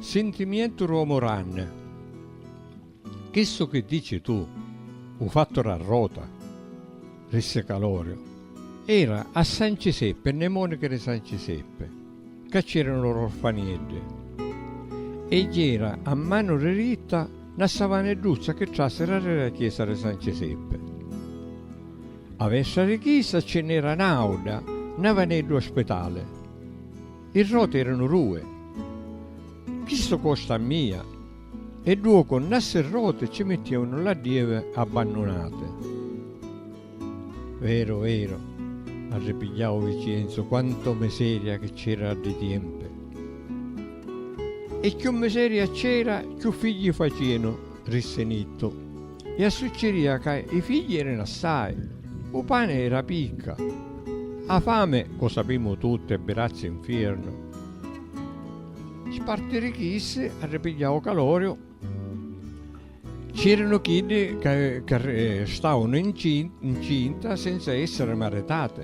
Sintimientu r'omu rann. Chissu chi dici tu, u fattu ra rota, rissi Caloriu, era a San Ciseppi, nne monichi ri San Ciseppi. ca c'eranu lor orfanieddi, e jera a manu riritta na savanedduzza chi trasera ri ra chiesa ri San Ciseppi. A vestra ri chisa ci n'era n'auda navaneddu ospitali. I roti eranu dui. Chistu costa a mia, e dduocu nna ssi roti ci mittievanu l'addievi abbannunati. Vero, vero, arripigliau Vicienzu, quanto miseria chi c'era a ddi tiempe! E cchiù miseria c'era, cchiù figli facianu, rissi Nittu. E assucceria ca i figli eranu assai, u pani era picca, a fami, cu sapimu tutti, è birazzi infiernu. Spartirichiissi, arripigliau Caloriu, C'eranu chiddi ca restavanu ncinta senza essiri maritati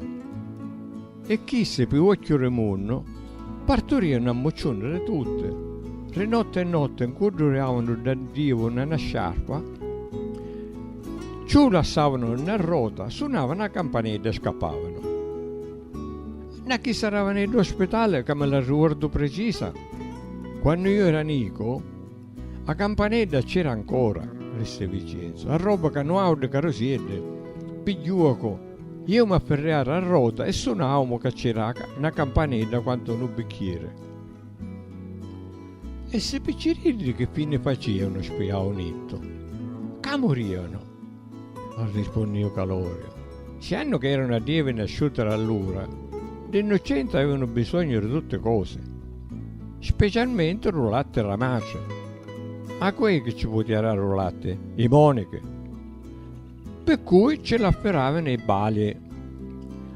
e chissi pi uocchiu di munnu parturianu a mucciuni di tutti, ri notti e notti ncudduriavanu dda divu na na sciarpa, ciu lassavanu na rota, sunava na campanedda e scappavanu. Na chissa ravanedda ospitali ca mi la ricordu precisa, quannu iu era nicu, A campanedda cc'era ancora, risse Vicenzo, arrobba ca nu audde carusiedde pigghiuaco ieu m'afferriara a rota e sunaumu ca cc'era na campanedda quantu nu bicchiere. E ssi picciriddi chi fine facianu? spiau Nitto. Ca murianu! Arrispunniu Caloriu. Siannu ca eranu a dievi nasciuti rallura, li nnuccenti avevanu bisognu ri tutti cosi, specialmenti ru latti ra matri. A cu è chi ci putia dari ru latti? I monichi. Pi cui ci l'affiravanu i bali.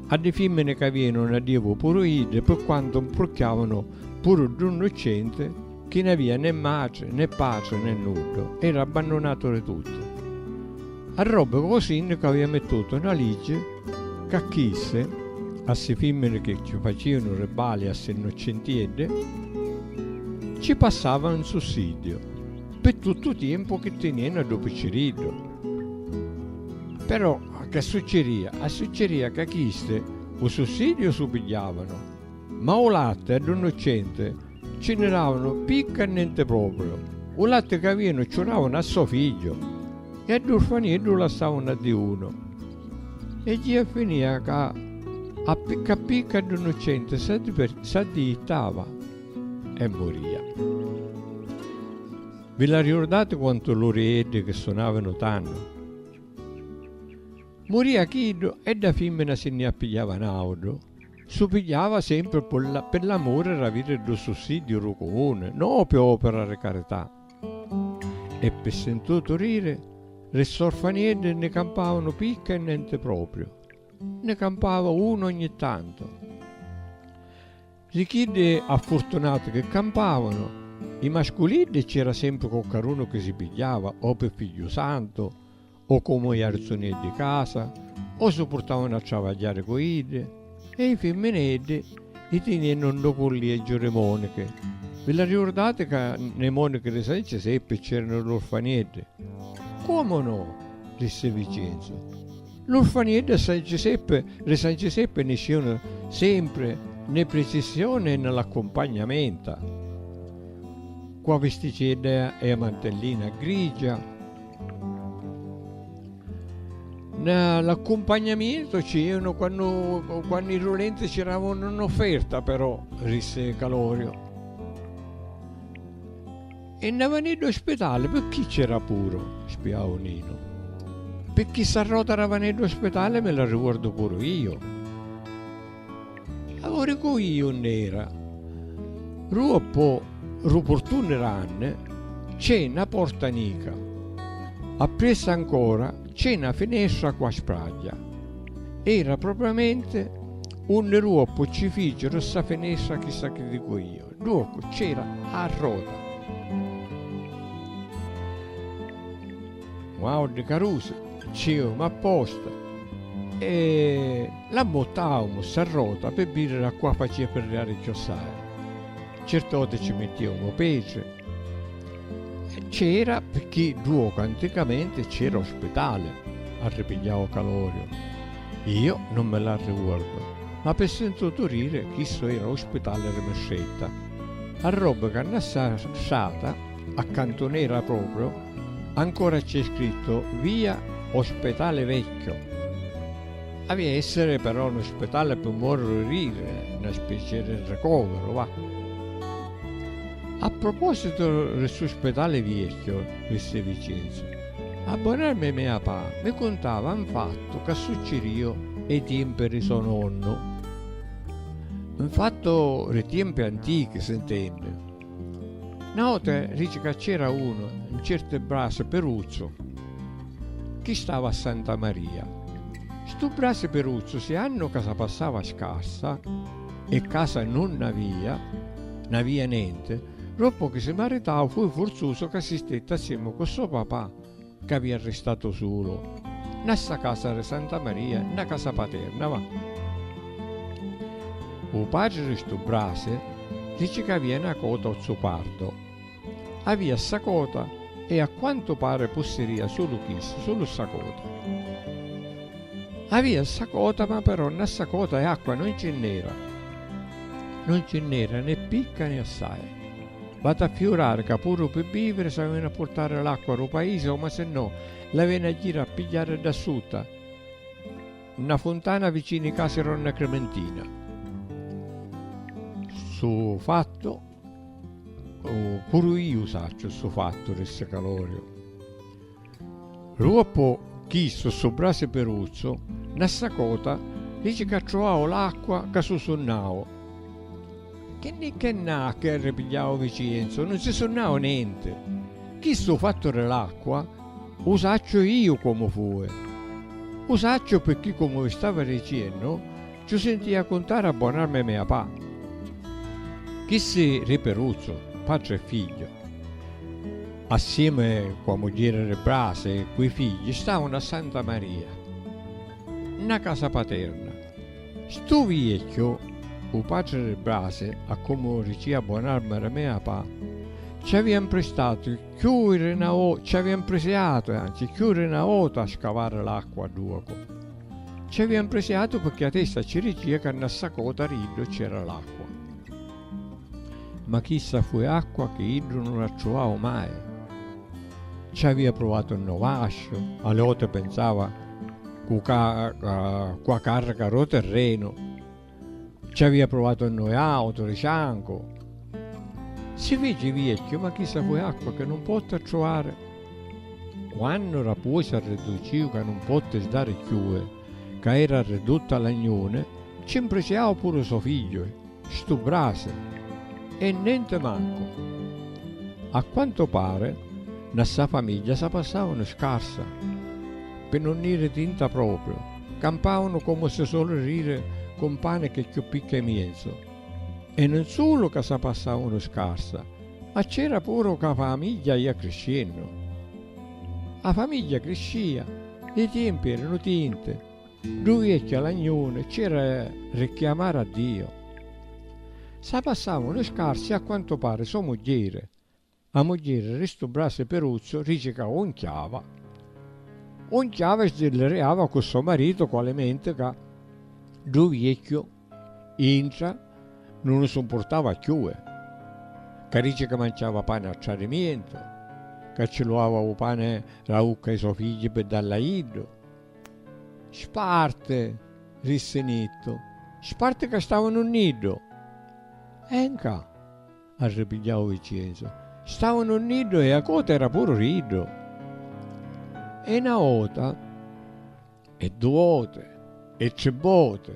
A li fimmini ca avìanu na dievu puru iddi pi quantu mprucchiavanu puru ddu nnuccenti, Chi n'avia né matri, né patri, né nuddu, era abbannunatu di tuttu. A robbi cu lu sinnicu avia mittutu na liggi ca chissi a ssi fimmini chi ci facianu ribbali a ssi nnuccintieddi, ci passava 'n sussiddiu pi tuttu u tiempu chi tinianu a ddu picciriddu. Però che succiria? A succiria ca chisti u sussiddiu su pigghiavanu, ma u latti a ddu nnuccenti Ci nni davanu picca e nenti propriu. U latti ca avìanu ciù davanu a so figghiu e a ddu urfaniddu lassavanu a diunu. E jia finìa ca a picca a picca ddu nuccenti s'addijittava e murìa. Vi la riurdati quantu lurieddi chi sunavanu tannu? Murìa chiddu e dda fimmina si nni appigliava n'àutru. Su pigghiava sempri pi l'amuri d'aviri ddu sussidiu dû cumuni, no pi opira di carità. E pi sintutu diri, li st'orfanieddi nni campavanu picca e nenti propriu, nni campava unu ogni tantu. Di chiddi affurtunati chi campavanu, i masculiddi cc'era sempri coccarunu chi si pigghiava o pi Figghiusantu O comu i arzuneddi casa o si purtavanu a travagghiari cu iddi e i fimmineddi i tiniennu nto cullieggiu ri monichi. Vi l'arricurdati ca nei monichi ri San Ciseppi c'eranu l'urfanieddi? Comu no! rissi Vicenzu. L'urfanieddi a San Ciseppi ri San Ciseppi niscivanu sempri nei pricissioni e nni l'accumpagnamenta cu a visticeddea e a mantellina grigia. L'accumpagnamiento ci ieranu quannu, quannu i rulenti ci eravanu in offerta però, rissi Calorio. E na vanedda o spitali picchì c'era puru? spiau Ninu. Picchì ssa rota ra vanedda o spitali mi la ricordu puru io. Auricu iu nn'era. Ru oppo ru purtunni ranni c'è na porta nica. Appressa ancora c'è na finestra cu a spragghia. Era propriamenti unni ru oppo ci ficiru ssa finestra chissa chi dicu iu. Ru oppo c'era a rota. Guardi carusi, ceu ma posta e l'ammuttaumu ssa rota pi vidiri a qua facia pirriari cchiossai. Certi oti ci mittiaumu petri. C'era picchì ddu oca anticamenti c'era u spitali, arripigghiau Caloriu. Iu nun mi l'arriguordu, ma pi sintutu diri chissu era u spitali ri Mistretta. A robbi ca nna ssa strata. A cantunera proprio ancora c'è scritto via Ospetale Vecchio. Avia essere però nu spetale pi muorriri, na specie di ricovero, va. A proposito di stu spetale viecchio, rissi Vicenzo, a bonarmi mia pa mi cuntava n fattu ca succirio ê tiempi di so nonnu. N fattu di tiempi antichi, s'intendi. Na vota dici ca c'era unu, un certu Brasi Peruzzu, chi stava a Santa Maria. Stu Brasi Peruzzu si annu ca sa passava scarsa e casa nun n'avia, n'avia nenti, doppu chi si maritau fui furzusu ca si stetti assiemu cu so papà, Ca vi arristatu sulu. Na ssa casa ri Santa Maria, na casa paterna, va. U patri ri stu brasi dici ca avia na cota o zupardo. Avia ssa cota e a quantu pari pussiria sulu chissu, sulu ssa cota. Avia ssa cota ma però na ssa cota e acqua non ci nn'era. Non ci nn'era né picca né assai. Vati a fiurari ca puru pi biviri s'avinu a purtari l'acqua ru paisi o masinnò l'avinu a jiri a pigghiari dda sutta nna funtana vicinu i casi ronna Crimentina. Ssu fattu puru iu sacciu ssu fattu rissi Caloriu. Ruoppo chisto stu brasi peruzzo na sacota dici ca truau l'acqua ca su sunnau. Chi nni ch'è nna a cherri pigliau Vicienzo nun si sunnau nenti. Chistu fattu ri l'acqua u sacciu iu comu fui. U sacciu pirchì comu vi stava diciennu Ciù sintìa cuntari a bon'armi mia pa. Chissi ri Piruzzu, patri e figghiu, assiemi cu 'a mugghieri ri Brasi e cu 'i figghi, stavanu a Santa Maria, nna casa paterna. Stu viecchiu, u patri ri Brasi, a comu ricìa bon'armi ri mia pa, ci avìa 'mpristatu cchiù ri 'na vota, ci avìa 'mprisiatu, anzi, cchiù ri 'na vota a scavari l'acqua a duacu. Ci avia 'mpresiatu pecchè 'a testa ci ricia ca nna ssa cota ri iddu c'era l'acqua. Ma chissa fu e acqua chi iddu nun attruvau mai. Ci avia pruvatu nno vasciu, a li oti pensava cu ca cu 'a carrica ro terrenu. Ci avia pruvato a noi auto di ciancu. Si feci viecchiu, ma chissa fui acqua che nun potti attruvare. Quannu ra puosi arridduciu ca nun potti sdari cchiue, ca era arridduta a lagnune, ci mpriciau puru so figliue, stu brasi, e nenti mancu. A quantu pare, na ssa famigghia sa passavanu scarsa, pi nun iri tinta propriu. Campavanu comu si soli riri cu un pani chi cchiù picca i mienzu. E nun sulu ca sa passavanu scarsa, ma c'era puru ca a famigghia ia criscennu. A famigghia criscia, li tiempi eranu tinti, ddu viecchiu alagnuni c'era ri chiamari a Diu. Sa passavanu scarsi a quantu pari so mugghieri, A mugghieri ri stu brasi piruzzu rici ca un chiava un chiava e sdilliriava cu so maritu cu alimenti ca ddu viecchiu intra nun u sumpurtava cchiui, ca rici ca manciava pani a tradimientu, ca ci luava u pani ra ucca i so figghi pi dalli a iddu. Sparti! rissi Nittu. Sparti ca stavanu nni iddu! E nca. Arripigghiau Vincenzu. Stavanu niddu e a cota era puru ri iddu. E na ota, e du oti, e tri boti,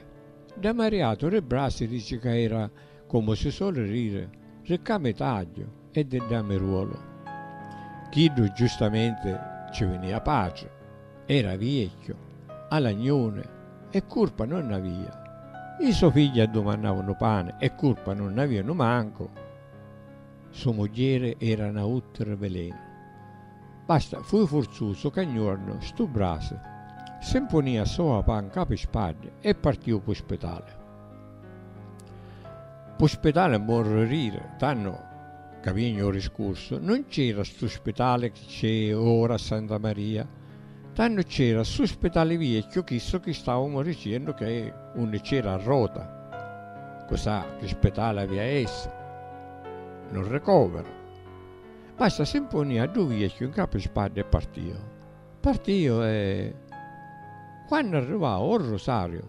dda mariatu ri brassi dici ca era, comu si soli riri, ricca mi tagghiu e di dda mi ruolu. Chiddu giustamenti ci vinia patri. Era viecchiu, alagnuni, e curpa nun nn'avia. I so figli addumannavu nu pani e curpa nun nn'avia nu mancu. So mugghieri era na uttri velenu. Basta, fui furzusu ca gnuornu stu brasi si mpunia soa pa ncapi spaddi e partiu pu spitali. Pu spitali morri riri, tannu ca vignu u riscursu, nun c'era stu spitali chi c'è ora a Santa Maria, tannu c'era stu spitali viecchiu chissu chi stavamu dicennu che unni c'era a rota, cusà chi spitali avia a essi, nun ricoviru. Basta si mpunì a ddu viecchiu ncapu i spaddi e partiu. Partiu e quannu arrivau o Rusariu,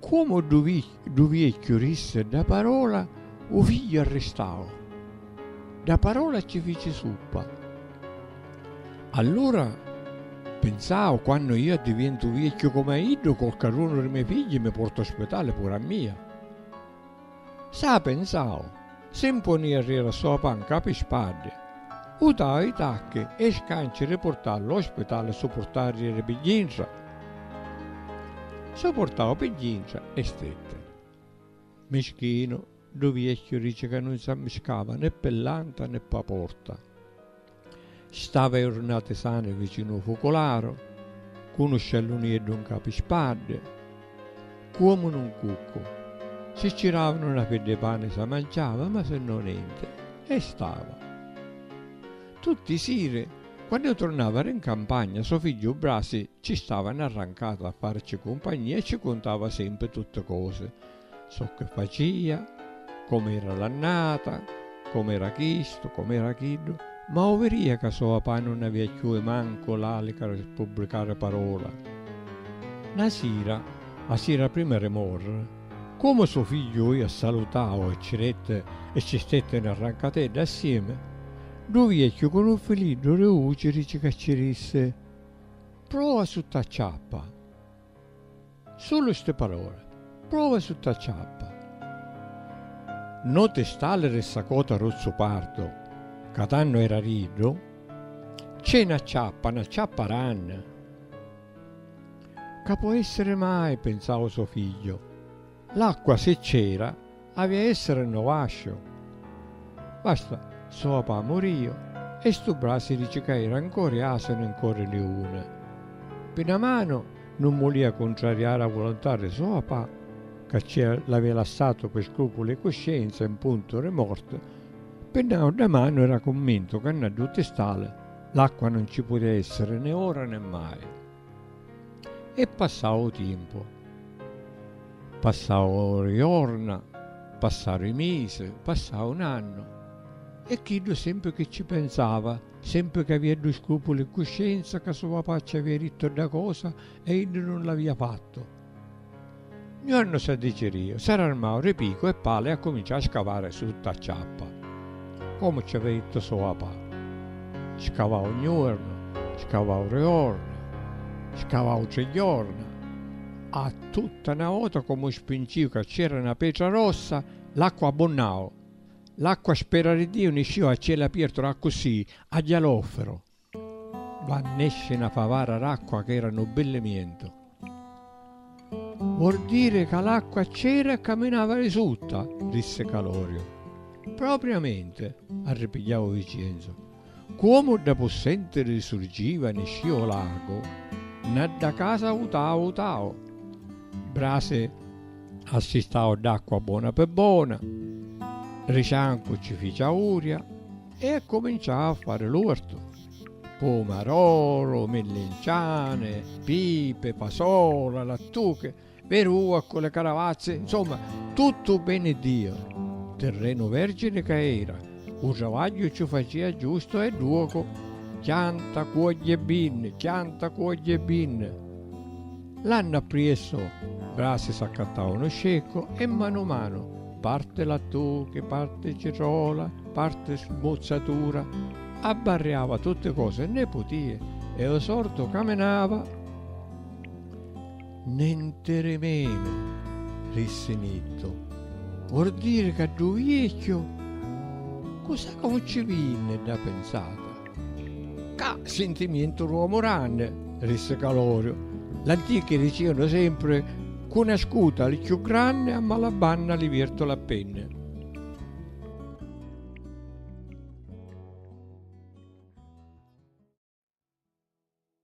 Comu ddu viecchiu rissi dda parola, u figghiu arristau. Dda parola cci fici suppa. Allura pinsau, quannu iu addivientu viecchiu comu a iddu, qualcadunu dî me figghi mi porta a spitali puru a mia. Sa pensau, si 'mponìa ri ra sua panca pi spaddi, utau i tacchi e i scanci ri purtari lu spitali su purtariri pi gintra. Su purtau pi gintra e stetti. Mischinu, du viecchiu rici ca nun s'ammiscava né pi l'anta né p'a porta. Stava iurnati sani vicinu u fucularu, cu nu sciallunieddu nca pi spaddi, cuomu nun cuccu. Si ci davanu na fedda i pani sa manciava, ma si no nenti. E stava. Tutti i siri, quannu iu turnava ri ncampagna, so figghiu Brasi ci stava narrancatu a farici cumpagnia e ci cuntava sempri tutti cosi. Zocche facia, com'era l'annata, com'era chistu, com'era chiddu, ma 'u viria ca so' papà nun avia cchiù e mancu l'alica ri spubblicari parola. Na sira, 'a sira prima ri morri, comu so' figliu oi a salutau e ci detti e ci stetti 'na rancatedda assiemi, ddu viecchiu cu 'nu filiddu ri uci dici ca ci dissi, Prova sutta a ciappa! Sulu sti palori. Prova sutta a ciappa. No ti stalliri ssa cota ruzzupardu ca tannu era riddu. C'è na ciappa, na ciappa ranni. Ca po essiri mai, pinsau so figghiu. L'acqua si c'era avi a essere nno vascio. Basta stu papà murìu e stu brà si dici ca era ncori asinu e ncori liuni. Pi na manu nun mulìa cuntrariari a volontà ri so papà ca ci l'avìa lassatu pi scrupuli 'i cuscienza e 'n puntu ri morti, pi n'àutra manu era cummintu ca nna ddu tistali l'acqua nun ci putìa essiri né ora né mai. E passau 'u tiempu. Passau 'u jorna, passaru 'i misi, passau 'u nannu. E chiddu sempri chi ci pensava, sempri chi avia ddu scrupulu 'i cuscienza ca so papà ci avia dittu dda cosa e iddu nun l'avia fattu. Nu annu s' addicirìu, s' ararmau ri picu e pali e accuminciau a scavari sutta a ciappa, comu ci avia dittu so papà. Scavau un juornu, scavau ri jorna, scavau tri jorna, a tutta na vota comu spincìu ca ci era na petra rossa, l'acqua abbunnau, l'acqua spera ri Diu niscìu a cielu apiertu ra accussì, a jalofero. Quannu nesci na favara d'acqua ch'era nu billimientu, vuol diri ca l'acqua c'era e caminava di sutta, rissi Caloriu. Propriamenti, arripigghiau Vicienzu. Cuomu dda pussentiri surgiva e niscia u lagu, na dda casa utau utau. Brasi assistau dd'acqua bona pi bona, ri ciancu ci fici auria. e accuminciau a fari l'urtu, pumaroru, millinciani, pipi, fasola, lattuchi, verua ccu li caravazzi, nsumma, tuttu u beni ddiu tirrenu vergini ca era, u travagghiu cci facia giustu e dduocu, chianta, cuogghia e binni, chianta, cuogghia e binni. L'annu appriesso, Brasi s'accattau unu sceccu e manu manu, parti lattuchi, parti citrola, parti smuzzatura, abbarriava tutti cosi e ne putia e u sordu caminava. Nintirimenu, rissi Nittu, vurdiri ca ddu viecchiu cu sa caucci vinni dda pinzata. Ca sintimientu l'uomu ranni, rissi Caloriu. L'antichi dicianu sempri, Cu n'ascuta li cchiù granni, a mala banna li viertu la penni.